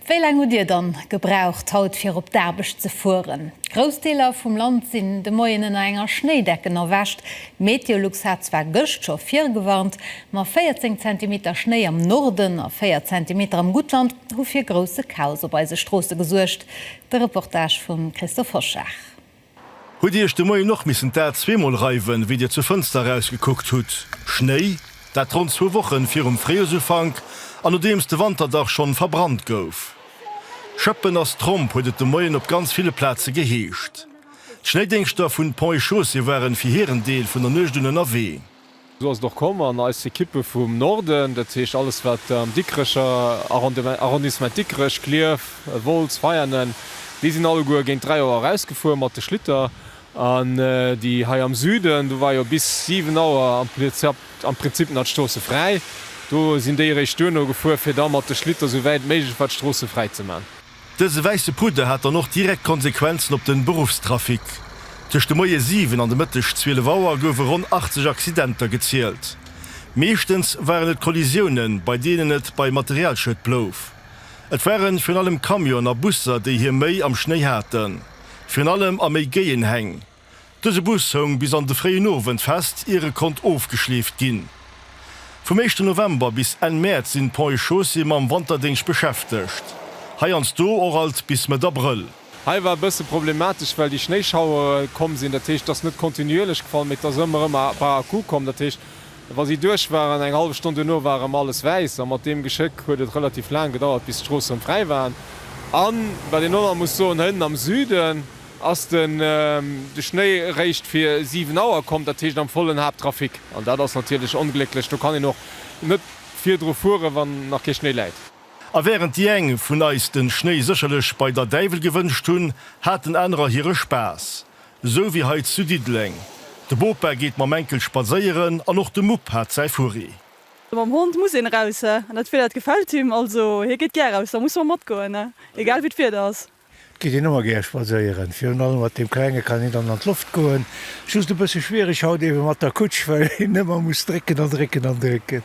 Wéi laang hutt Dir dann gebraucht haut fir op d'Aarbecht ze fueren? Grouss Deeler vum Land sinn de Moien ënner enger Schnéidecken erwächt. Meteolux hat zwar gëscht scho virgewarnt, ma 14 Zentimeter Schnéi am Norden a 4 Zentimeter am Guttland hu fir grousse Chaos op eise Stroosse gesuergt. De Reportage vum Christophe Hoschag. Hutt Dir Iech de Moien och missen d'A zweemol reiwen, wéi Dir zur Fënster erausgekuckt hutt? Schnéi, dat ronn zwou Wochen virum Fréijoersufank an nodeems de Wanterdach schonn verbrannt gouf. Schëppen ass Tromp, huet et de Moien op ganz ville Plaze geheescht. D'Schnéidéngschter vun Ponts et Chaussées waren fir hiren Deel vun der Nuecht un ënnerwee. Esou ass et och komm an eis Ekippe vum Norden, dat heescht alles wat am Dikrecher Arrondissement, Dikrech, Klierf, Wolz, Veianen, déi sinn alleguer géint 3 Auer erausgefuer mat de Schlitter an déi hei am Süden, do war jo bis 7 Auer am Prinzip nach d'Stroosse fräi, do sinn déi eréischt duerno gefuer fir da mat de Schlitter sou wäit méiglech war d'Stroosse fräi ze man. Dëse wäisse Pudder hat dann och direkt Konsequenzen op de Beruffstrafic. Tëscht de Moie 7 an de Mëtteg 12 Auer goufe ronn 80 Accidenter gezielt. Meeschtens waren et Kollisiounen, bei deenen et bei Materialschued blouf. Et ware virun allem Camionen a Busser, déi hir Méi am Schnéi haten, virun allem a méi géien Häng. Dëse Bus houng bis an de fréien Owend fest, ier e konnt ofgeschleeft ginn. Vum éischten November bis Enn Mäerz sinn Pont et Chaussée mam Wanterdéngscht beschäftegt. Heiansdo och alt bis Mëtt Abrëll. Hei war e bësse problematesch, well déi Schnéischauere komm sinn. Dat heescht, et ass net kontinuierlech gefall, mee et ass ëmmer erëm par à coup komm. Dat heescht, wa si duerch waren, eng hallef Stonn duerno war erëm alles wäiss. A mat deem Geschéck huet et relativ laang gedauert, bis d'Stroosse erëm fräi waren. A wat een och nach muss soen, Hënn am Süden, Ass den de Schnéi réischt fir 7 Auer komm, dat heescht am vollen Haapttrafic, an dat ass natierlech onglécklech, do kann een och net virdru fueren, wann nach kee Schnéi läit. A während déi eng vun eis den Schnéi sécherlech bei der Däiwel gewënscht hunn, haten anerer hire Spaass. Esou wéi hei zu Diddeleng. De Bopa geet mam Enkel spadséieren an och de Mupp hat säi Furri. Mam Hond muss een eraus, an dat Wieder dat gefält him, also hie geet gär eraus, da musse mer matgoen, egal wéi d'Wieder ass. Geet een ëmmer gär spadséieren. Virun allem mat deem Klenge kann een dann an d'Loft goen. Just e bësse schwiereg haut eebe mat der Kutsch, well een ëmmer muss drécken an drécken an drécken.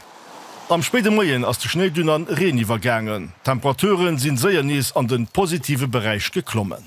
Am spéide Moien ass de Schnéi dunn an Reen iwwergaangen. D'Temperature sinn séier nees an den positive Beräich geklommen.